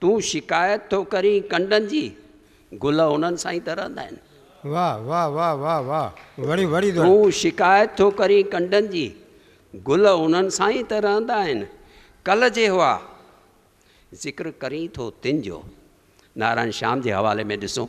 تون شڪايت ٿو ڪرين ڪنڊن جي، گل انهن سان ئي ته رهندا آهن. واه واه واه واه واه وڙي وڙي دؤر. تون شڪايت ٿو ڪرين ڪنڊن جي، گل انهن سان ئي ته رهندا آهن. ڪل جي هئا، ذڪر ڪرين ٿو تن جو. نارائڻ شيام جي حوالي ۾ ڏسون.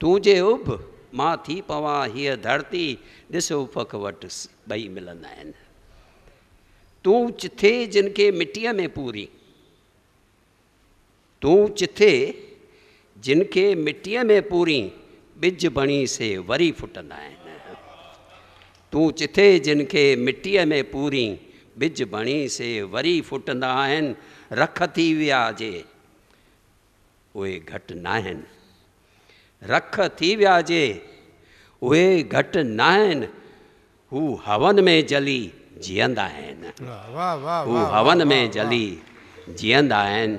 تون جي اڀ مان ٿي پوان هيء ڌرتي ڏس افق وٽ ٻئي ملندا آهن تون چٿي جن کي مٽيء ۾ پوري تون چٿي جن کي مٽيء ۾ پوري ٻج بڻي سي وري ڦٽندا آهن تون چٿي جن کي مٽيء ۾ پوري ٻج بڻي سي وري ڦٽندا آهن رک ٿي ويا جي اهي گهٽ ناهن. رک ٿي ويا جي، اهي گهٽ ناهن. هو هون ۾ جلي جيئندا آهن. هو هون ۾ جلي جيئندا آهن.